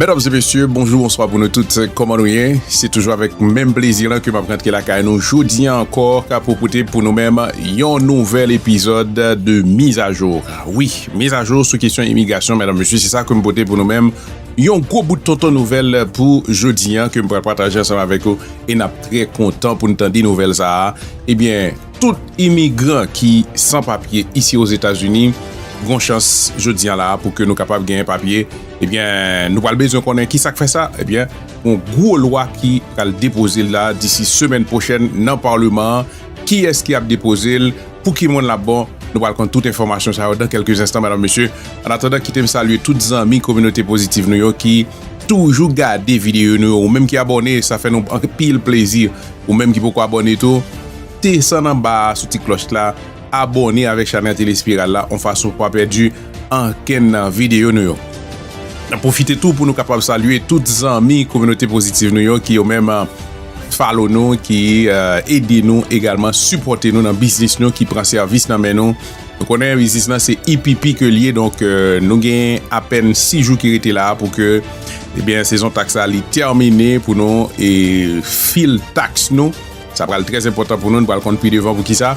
Medam e mesye, bonjou, bonswa pou nou tout, kòman nou ye? Se toujou avèk menm plezi lan ke m ap rantre lakay nou jodi an ankò pou pote pou nou menm yon nouvèl epizòd de Mizajou. Wi, mizajou sou kesyon imigrasyon mèdam mesye se sa kem pote pou nou menm yon gwo bout tonton nouvèl pou jodi an kem pral pataje ansanm avèk ou e nap trè kontan poun tande nouvèl sa a ebyen tout imigran ki san papye isi ozetazini gon chans jodi an la pou ke nou kapab genyen papye ebyen nou pral bezwen konnen ki sak fè sa ebyen yon gwo lwa ki pral depoze la disi semèn pwochèn nan parleman kiyès ki ap depoze l pou ki moun lap bon nou pral konn tout enfòmasyon sa yo dan kelke zenstan madam mesye an atandan kitem salye tout zanmi kominote pozitiv nou yo ki toujou gade videyo nou yo ou menm ki abòne sa fè nou anpil plezi ou menm ki poko abòne tou desann anba a sou ti klòch la abòne avèk chanèl tele espiral la an fason pou pa pèdi ankenn nan videyo nou yo nan pwofite tou pou nou kapab salye tout zanmi kominote pozitiv nou yo ki yo menm. Follow nou ki ede nou egalman sipòte nou nan biznis nou ki pran sèvis nan men nou nou konnen biznis nan se IPP ke l ye donk nou gen apèn 6 jou ki rete la pou ke ebyen sezon taks la li tèmine pou nou e fil taks nou sa pral trè enpòtan pou nou nou pral konn pi devan pou kisa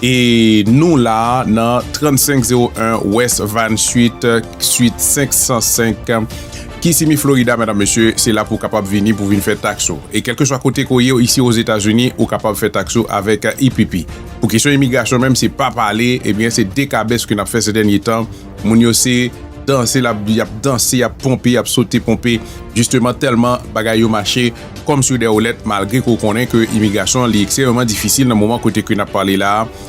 e nou la nan 3501 west 28 suit 505. Key Simi Florida medam mesye se la pou kapab vini pou vin fè tax ou e kelkeswa kote ke w ye isi ozetazini ou kapab fè tax ou avek IPP pou kesyon imigrasyon menm se pa pale ebyen se dekabès ke nap fè se dènye tan moun yo se danse lap yap danse yap ponpe yap sote ponpe jisteman tèlman bagay yo mache kòm sou dè woulèt malgre ke w konnen ke imigrasyon li ekstrememan difisil nan moman kote ke nap pale la a.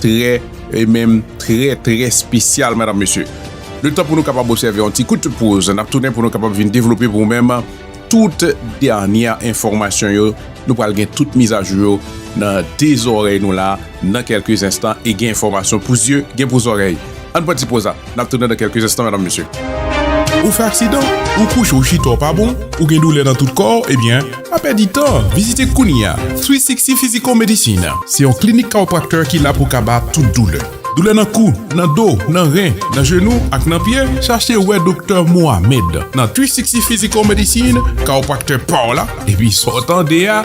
Trè e menm trè trè spesyal madam mesye. Le tan pou nou kapab osève yon ti kout poz nap tounen pou nou kapab vin devlope pou ou menm tout dènyè enfòmasyon yo nou pral gen tout mizajou yo nan de zòrèy nou la nan kelke zenstan e gen enfòmasyon pou zye gen pou zòrèy. Ann pran ti poz la, nap tounen nan kelke enstan medam mesye. Ou fè aksidan? Ou kouche ou chita w pa bon? Ou gen doulè nan tout kò w? Ebyen, pa pèdi tan, vizite kounye a Sweet Sixty Physical Medicine. Se yon klinik kawopraktè ki la pou kaba tout doulè. Doulè nan kou, nan do, nan ren, nan jenou ak nan pye? Chache wè Doktè Mohamed nan Sweet Sixty Physical Medicine, kawopraktè pa w la, epi sa w tande a.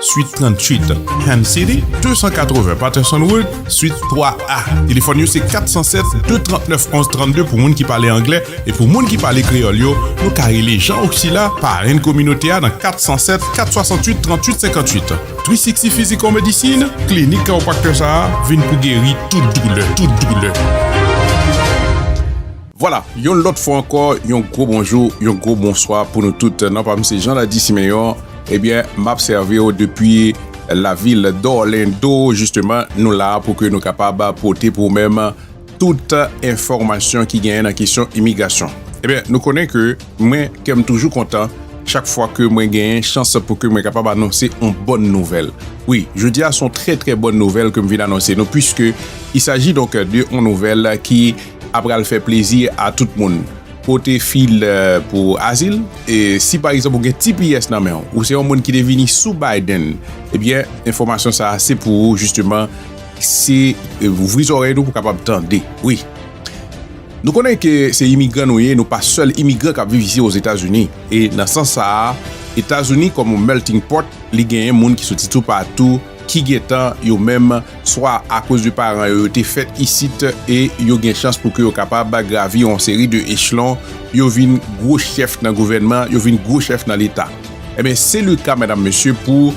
Suite 38, Ham City, 280 Patterson Road, Suite 3A. Telefòn yo se 407-239-1132 pou moun ki pale anglè e pou moun ki pale kreyòl yo, nou ka rele Jean Oxila, parenn kominote a nan 407-468-3858. 360 Physical Medicine, klinik kawopraktè sa a vin pou geri tout doulè, tout doulè. Vwala, yon lòt fwa ankò, yon gwo bonjou, yon gwo bonswa pou nou tout. Non pa m se Janladi Simeon. Ebyen, m ap sèvi w depi lavil Dorlando. Jisteman, nou la a pou ke nou kapab pote pou ou menm tout enfòmasyon ki genyen nan kesyon imigrasyon. Ebyen, nou konnen ke mwen, kè m toujou kontan chak fwa ke mwen genyen chans pou ke mwen kapab anonse yon bòn nouvèl. Wi, jodi a se yon trè trè bòn nouvèl ke m vin anonse nou, puiske i saji donk de yon nouvèl ki. a pral fè plezi a tout moun. Pote fil pou azil, e si pa egzanp ou gen tps nan menw, ou se yon moun ki te vini sou Biden, ebyen enfòmasyon sa se pou ou jisteman se ouvri zòrèy nou pou kapab tande wi. Nou konnen ke se imigran nou ye, nou pa sèl imigran kap viv isi ozetazini, e nan sans sa a, etazini kòm yon melting pot li genyen moun ki soti toupatou ki gentan yo menm. swa akoz de paran yo yo te fèt isit e yo gen chans pou ke yo kapab gravi yon seri de echlon, yo vin gwo chèf nan gouvènman, yo vin gwo chèf nan leta. Enben, se le ka, medam, mesye, pou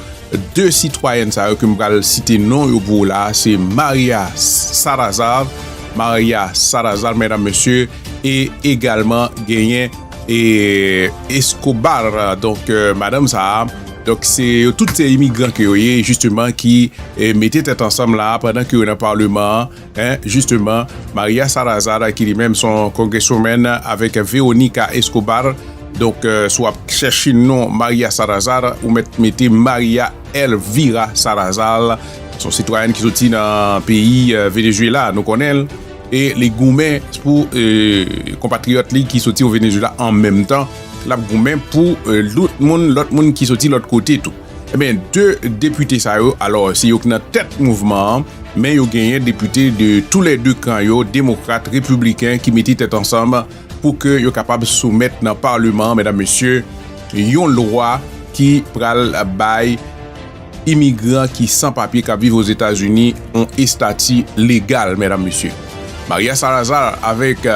de sitwayèn sa yo ke m pral site non yo pou ou la a, se Maria Salazar, Maria Salazar, medam, mesye, e egalman genyen. E Escobar donk madanm sa a donk se yo tout se imigran ke yo ye jisteman ki mete tèt ansanm la a pandan ke yo nan paleman an en jisteman Maria Salazar ki li menm son congresswoman avèk Veronica Escobar donk si w ap chèche non Maria Salazar ou mèt mete Maria Elvira Salazar son sitwayèn ki soti nan peyi Venezuela nou konnen l. e li goumen pou konpatriyòt li ki soti o Venezuela an menm tan l ap goumen pou lout moun lòt moun ki soti lòt kote tou ebyen 2 depite sa yo alò se yo k nan tèt mouvman an men yo genyen depite de tou lè 2 kan yo demokrat repibliken ki mete tèt ansanm pou ke yo kapab soumèt nan paleman mèdam mesye yon lwa ki pral bay. Imigran ki san papye k ap viv Ozetazini yon estati legal, medam mesye. Maria Salazar avèk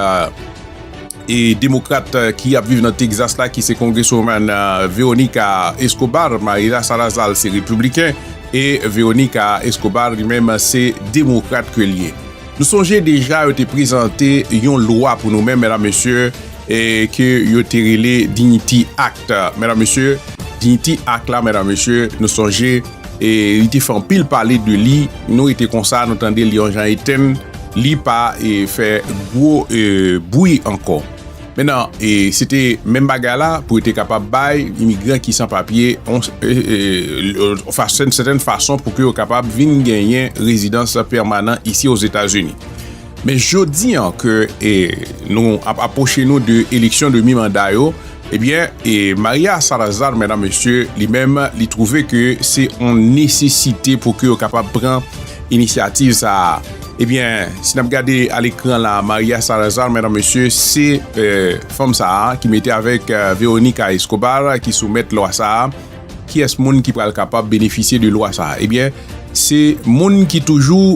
e demokrat ki ap viv nan Texas la ki se Congresswoman Veronica Escobar. Maria Salazar se repibliken e Veronica Escobar li menm se demokrat ke li ye. Nou sonje deja yo te prezante yon lwa pou nou menm mèdam mesye e ke yo te rele Dignity Act mèdam mesye Dignity Act la mèdam mesye nou sonje e li te fè anpil pale de li nou rete konsa nou tande li yon jan etenn li pa e fè gwo e bwi ankò. Menan, se te menm bagay la pou yo te kapab bay imigran ki san papye yon sèten fason pou yo kapab vin genyen rezidans pèmanan isi Ozetazini. Men jodi an ke nou ap apwoche nou de eleksyon de mi-manda yo, ebyen, Maria Salazar, menan mesye, li menm li twouve ke se yon nesesite pou yo kapab pran inisyativ sa a. Ebyen, si n ap gade a lekran la, Maria Salazar, medam mesye, se fanm sa a ki mete avèk Veronica Escobar ki soumèt lwa sa a. Kiyès moun ki pral kapab benefisye de lwa sa a? Ebyen, se moun ki toujou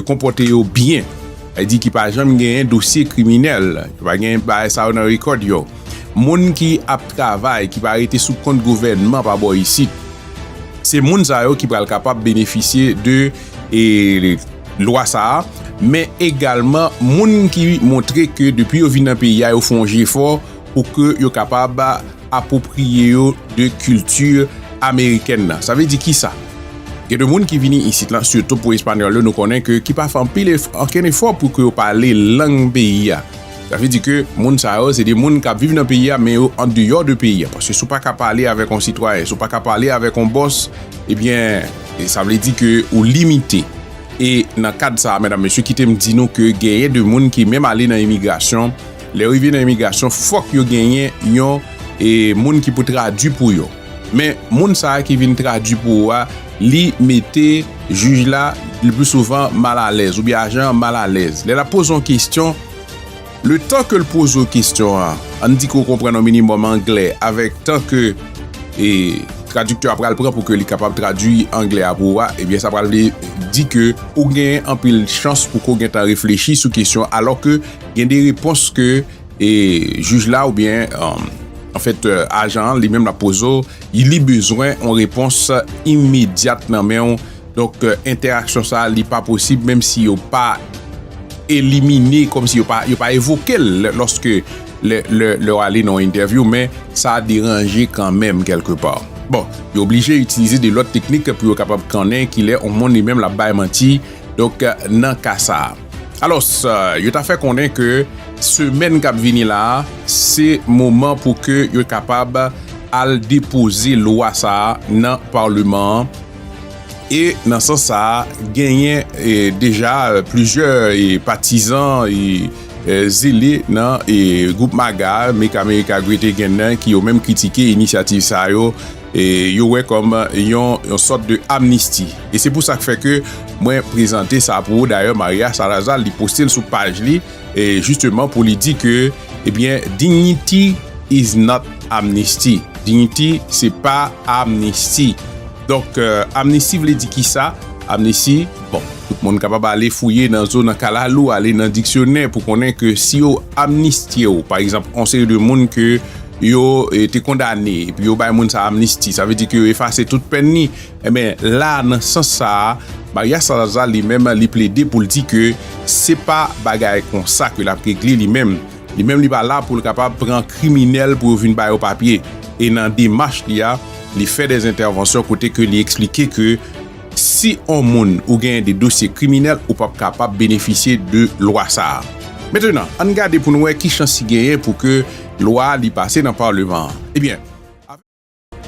konpòte yo byen, sa di ki pa janm genyen dosye kriminèl, yo pa gen bagay sa yo nan rekòd yo, moun ki ap travay, ki pa rete sou kont gouvènman pa bò isit. Se moun sa yo ki pral kapab benefisye de. e lwa sa a men egalman moun ki montre ke depi yo vin nan peyi a yo fè yon jefò pou ke yo kapab apwopriye yo de kilti amerikèn nan sa vle di kisa gen de moun ki vini isit lan sitou pou espanyòl yo nou konnen ke ki pa fè anpil ankenn efò pou ke yo pale lang peyi a sa vle di ke moun sa yo se de moun k ap viv nan peyi a men yo andeyò de peyi a paske si w pa ka pale avèk yon sitwayen si w pa ka pale avèk yon bòs ebyen E sa vle di ke ou limite. E nan kad sa a medam mesye kite m di nou ke genyen de moun ki menm ale nan imigrasyon, lè yo rive nan imigrasyon fòk yo genyen yon e moun ki pou tradwi pou yo. Men moun sa a ki vin tradwi pou ou a li mete jij la le pli souvan mal alèz oubyen ajan an mal alèz lè l ap poze yon kestyon. Le tan ke l poze w kestyon an, an n di ke w konprann yon minimòm anglè avèk tan ke tradiktè a pral pran pou ke li kapab tradui anglè a pou ou a, ebyen sa pral vle di ke ou gen anpil chans pou ke w gentan reflechi sou kestyon an alò ke gen de repons ke jij la oubyen anfèt ajan an li menm l ap poze w, li bezwen yon repons imedyat nan men w. Donk entèraksyon sa li pa posib menm si yo pa elimine kòm si yo pa yo pa evoke l lòske lè lè lè w ale nan yon entèvyou men sa deranje kanmenm kèlke pa. Bon, yo oblije itilize de lòt teknik pou yo kapab konnen ki lè yon moun li menm l ap bay manti donk nan ka sa. Alòs, yo ta fè konnen ke semèn k ap vini la a se moman pou ke yo kapab al depoze lwa sa a nan Paleman an. E nan sans sa a, genyen deja plizyè patizan e zele nan gwoup MAGA, Make America Great Again, nan ki yo menm kritike inisyativ sa yo, yo wè kòm yon sòt de amnisti. E se pou sa k fè ke mwen prezante sa pou ou, dayè Maria Salazar li poste l sou paj li. e jisteman pou li di ke ebyen dignity is not amnesty, dignity se pa amnisti donk amnisti vle di kisa amnisti bon tout moun kapab ale fouye nan zo nan kalalou ale nan diksyonè pou konnen ke si yo amnistye ou pa egzanp on seri de moun ke yo te kondane epi yo bay moun sa amnisti sa vle di ke yo efase tout pèn ni. Enben, la a nan sans sa a, Maria Salazar li menm li plede pou l di ke se pa bagay konsa ke l ap regle li menm. Li menm li pa la pou l kapab pran kriminèl pou yo vin ba yo papye. E nan demach li a, li fè dè entèvansyon kote ke li eksplike ke si on moun ou genyen de dosye kriminèl ou p ap kapab benefisye de lwa sa a. Mentenan, ann gade pou n wè ki chans ki genyen pou ke lwa a li pase nan Paleman an. Ebyen.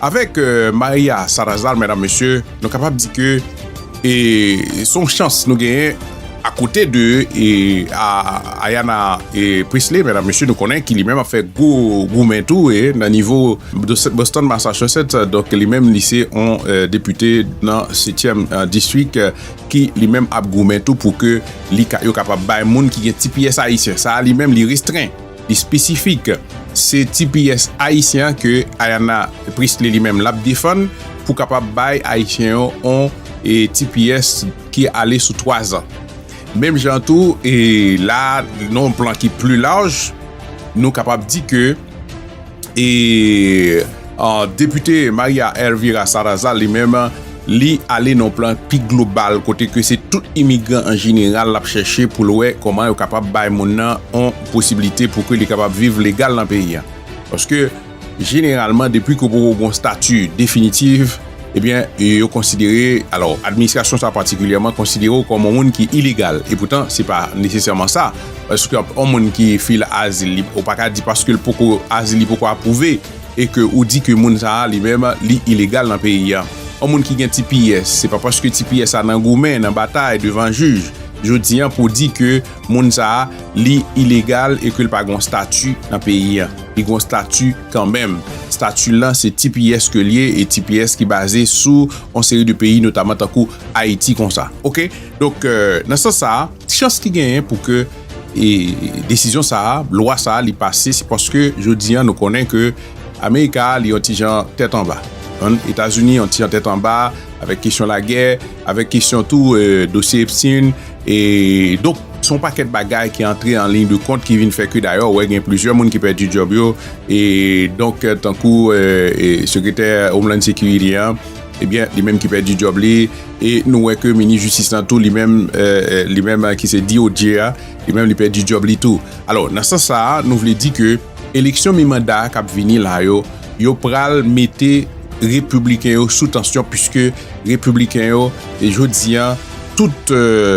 Avèk Maria Salazar medam mesye nou kapab di ke e son chans nou genyen akote de e Ayanna Pressley medam mesye nou konnen ki li menm ap fè gwo goumen tou e nan nivo Boston Massachusetts donk li menm li se on depite nan setyèm distrik ki li menm ap goumen tou pou ke li ka yo kapab bay moun ki gen ti pyès ayisyen sa li menm li restren. Espesifik. Se tps ayisyen an ke Ayanna Pressley li menm lap defann pou kapab bay ayisyen yo on tps ki ale sou 3 zan. Menm jan tou la a nan on plan ki pli laj nou kapab di ke. E Depite Maria Elvira Salazar li menm li ale nan plan pi global kote ke se tout imigran an jeneral l ap chèche pou l wè kòman yo kapab bay moun nan yon posiblite pou ke li kapab viv legal nan peyi an. Paske jeneralman depi ke w poko gen yon stati definitif, Ebyen, yo konsidere, alò, administrasyon sa a patikilyèman konsidere w kòm yon moun ki ilegal. Epoutan, se pa nesesèman sa. Paske yon moun ki file azil li, ou pa ka di paske l poko, azil li poko apwouve e ke ou di ke moun sa a li menm li ilegal nan peyi a. Yon moun ki gen tps, se pa paske tps a nan goumen, nan batay devan jij, jodi a pou di ke moun sa a li ilegal e ke l pa gen yon stati nan peyi a. Li gen yon stati. Kanmenm, stati lan se tps ke l ye e tps ki baze sou yon seri de peyi notaman tankou Ayiti konsa. Ok, donk nan sans sa a, chans ki genyen pou ke desizyon sa a, lwa sa a li pase se paske jodi an nou konnen ke Amerika li yon ti jan tèt anba. Etazini yon ti jan tèt anba avèk kesyon lagè, avèk kesyon tou dosye Epstein. E donk, se yon pakèt bagay ki antre an liy de kont ki vin fè ke dayè ou wè gen plizyè moun ki pèdi djòb yo. E donk, tankou sekretè Homeland Security an, ebyen, li menm ki pèdi djòb li. E nou wè ke minis jistis lan tou, li menm, li menm ki se DOJ a, li menm li pèdi djòb li tou. Alò, nan sans sa a, nou vle di ke. Eleksyon mi manda a kap vini la yo, yo pral mete Repibliken yo sou tansyon puiske Repibliken yo jodi an tout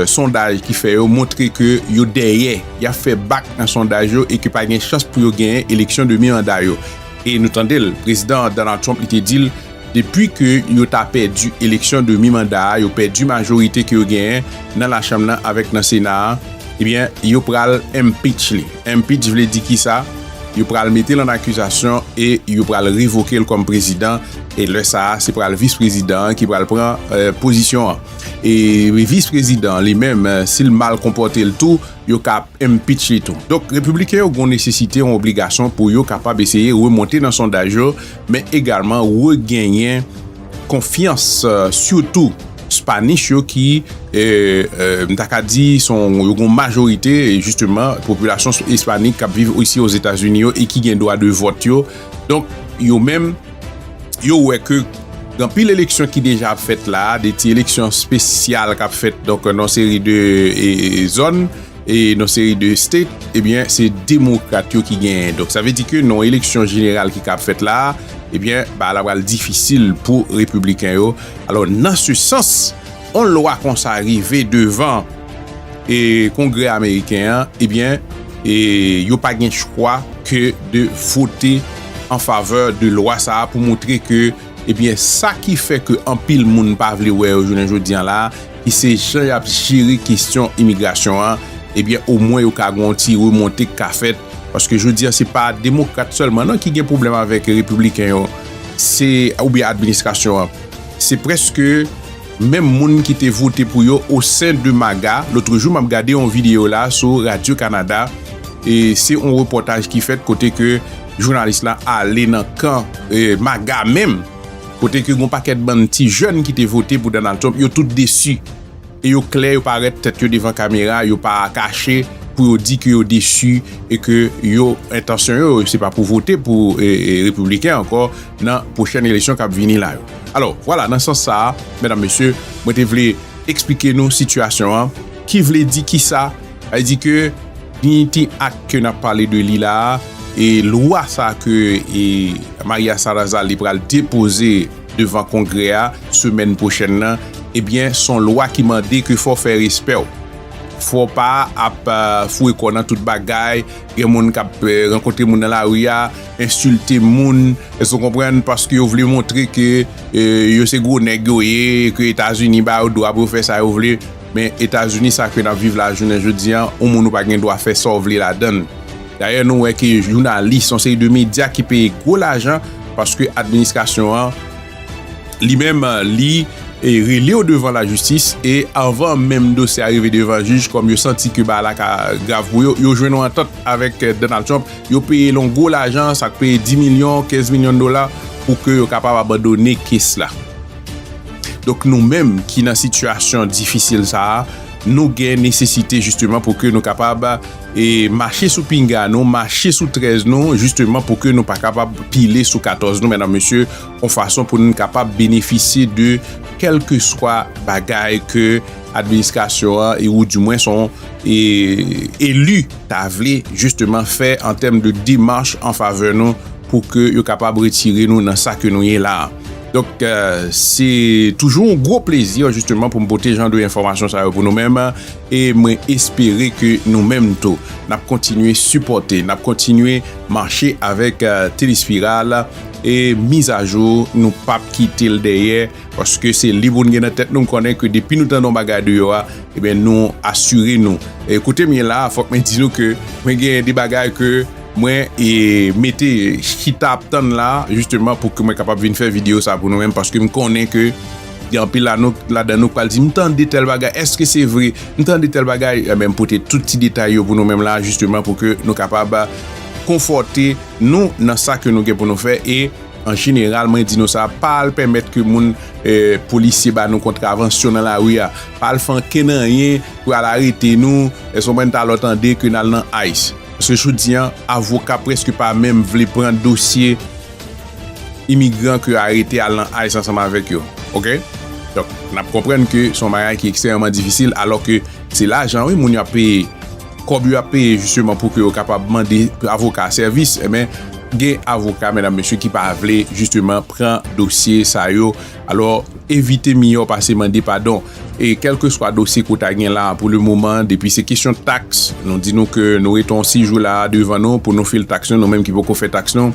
sondaj ki fè yo montre ke yo dèyè, yap fè bak nan sondaj yo e ke pa gen chans pou yo genyen eleksyon de mi manda yo. E nou tande l, Prezidan Donald Trump li te di l depi ke yo ta pèdi eleksyon de mi manda a, yo pèdi majorite ke yo genyen nan Lachanm nan avèk nan Sena a, ebyen yo pral impeach li. Impeach vle di kisa? Yo pral mete l an akizasyon e yo pral revoke l kòm prezidan e lè sa a se pral vis prezidan an ki pral pran pozisyon an. E vis prezidan li menm si l mal konpòte l tou yo ka ap impeach li tou. Donk repibliken yo gon nesesite, yon obligasyon pou yo kapab eseye remonte nan sondaj yo men egalman regenyen. konfyans sitou Spanish yo ki m ta ka di son yo gon majorite jisteman popilasyon Espanik k ap viv isi o Zetazini yo e ki gen dwa de vòt yo. Donk yo menm yo wè ke gen anpil eleksyon ki deja ap fèt la a, de ti eleksyon spesyal k ap fèt donk nan yon seri de zòn. e non seri de state ebyen se demokrat yo ki genyen donk sa vle di ke non eleksyon jeneral ki kab fèt la ebyen ba la pral difisil pou repibliken yo alò nan se sans on lwa konsa rive devan e kongrè ameriken an ebyen e yo pa gen chkwa ke de vote an favè de lwa sa pou moutre ke ebyen sa ki fè ke anpil moun pa vle wè yo jounen jodi an la. ki se jan y ap jere kesyon imigrasyon an, ebyen omwen yo ka gen yon ti remonte k ka fèt. Paske jodi a se pa demokrat sèlman non ki gen pwoblèm avèk repibliken yo, se oubyen administrasyon an. Se prèske menm moun ki te vote pou yo o sen de MAGA. Lotrejou m ap gade yon videyo la sou radyo Kanada, e se yon repòtaj ki fèt kote ke jounalis la ale nan kan MAGA menm. Kote ke gon pakèt bann ti jèn ki te vote pou Donald Trump yo tout desi e yo klè yo parèt tèt yo devan kamera yo pa kache pou yo di ke yo desi e ke yo entansyon yo se pa pou vote pou repibliken ankò nan pwochèn eleksyon kap vini la yo. Alò vwala nan sans sa a mèdam mesye mwen te vle eksplike nou sitiyasyon an ki vle di kisa Sa vle di ke Dignity Act ke nap pale de li la a, e lwa sa ke Maria Salazar li pral depoze devan kongrè a semèn pwochèn nan, ebyen son lwa ki mande ke fò fè respè w. Fò pa ap foure kò nan tout bagay, gen moun kap rankontre moun nan lari a, ensilte moun, èske w konprann, paske yo vle montre ke yo se gwo nèg yo ye, ke Etazini ba yo dwa pou yo fè sa yo vle. Men Etazini sa ke nap viv la jounen jodi an, yon moun ou pa gen dwa fè sa w vle ladan l. Dayè nou wè ke jounalis, yon seri de medya ki peye gwo lajan paske administrasyon an li menm li rele w devan lajistis e anvan menm dosye a rive devan jij kòm yo santi ke bagay la ka grav pou yo, yo jwenn yon antant avèk Donald Trump, yo peye l yon gwo lajan, sa k peye 10 milyon, 15 milyon dola pou ke yo kapab abandone kes la. Donk nou menm ki nan sitiyasyon difisil sa a, nou gen nesesite jisteman pou ke nou kapab mache sou pinga nou, mache sou 13 nou, jisteman pou ke nou pa kapab pile sou 14 nou, mèdam mesye, yon fason pou nou kapab benefisye de kelke swa bagay ke administrasyon an e ou di mwen son e elu ta vle jisteman fè an tèm de demarch an favè nou pou ke yo kapab retire nou nan sa ke nou ye la a. Donk se toujou yon gwo plezi jisteman pou m pote jan de enfòmasyon sa yo pou nou menm e mwen espere ke nou menm tou n ap kontinye sipòte, n ap kontinye mache avèk Telespiral e mizajou nou p ap kite l dèyè paske se li pou n gen nan tèt nou m konnen ke depi nou tande yon bagay deyò a nou asire nou. Kote m ye la a fòk mwen di nou ke mwen gen de bagay ke Mwen mete chita ap tann la jisteman pou ke mwen kapab vin fè videyo sa pou nou menm paske m konnen ke gen anpil ladan nou k pral di m tande tèl bagay eske se vre m tande tèl bagay m pote tout ti detay yo pou nou menm la jisteman pou ke nou kapab konfòte nou nan sa ke nou gen pou nou fè e an jeneral mwen di nou sa pa al pèmèt ke moun polisye ba nou kontravansyon nan lari a pa al fè ankenn anyen pou al arete nou eske w konprann ta lò tande ke n al nan ice. Paske jodi an, avoka preske pa menm vle pran dosye imigran ke yo arete al nan ice ansanm avèk yo. Ok? Donk, n ap konprann ke se yon bagay ki ekstrèmeman difisil alò ke se lajan wi moun yo ap peye, kòb yo ap peye jisteman pou ke yo kapab mande avoka sèvis. Enben, gen avoka medam mesye ki pa vle jisteman pran dosye sa yo. Alò, evite miyò pase mande padon. E kèlkeswa dosye ke w ta gen la a pou le moman, depi se kesyon taks, nou di nou ke nou rete yon 6 jou la a devan nou pou nou fil taks nou, nou menm ki poko fè taks nou,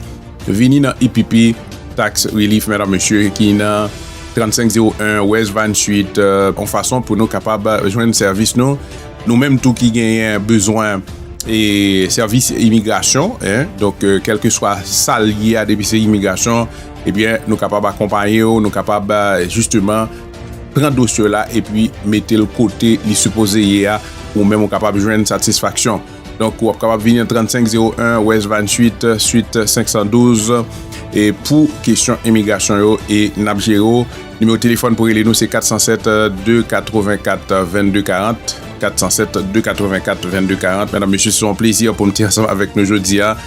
vini nan EPP Tax Relief Medam Mesye ki nan 3501 West Vine Street yon fason pou nou kapab jwenn sèvis nou. Nou menm tou ki genyen bezwen e sèvis imigrasyon, donk kèlkeswa sa l ye a depi se imigrasyon, Ebyen nou kapab akonpaye w, nou kapab jisteman pran dosye w la epi mete l kote li sipoze ye a, ou menm ou kapab jwenn satisfaksyon. Donk ou ap kapab vini nan 3501 West 28 Suite 512 e pou kesyon imigrasyon yo e n ap jere w. Nimewo telefòn pou rele nou se 407 284 22 40, 407 284 22 40. Medam mesye se yon plezi pou m te ansanm avèk nou jodi a.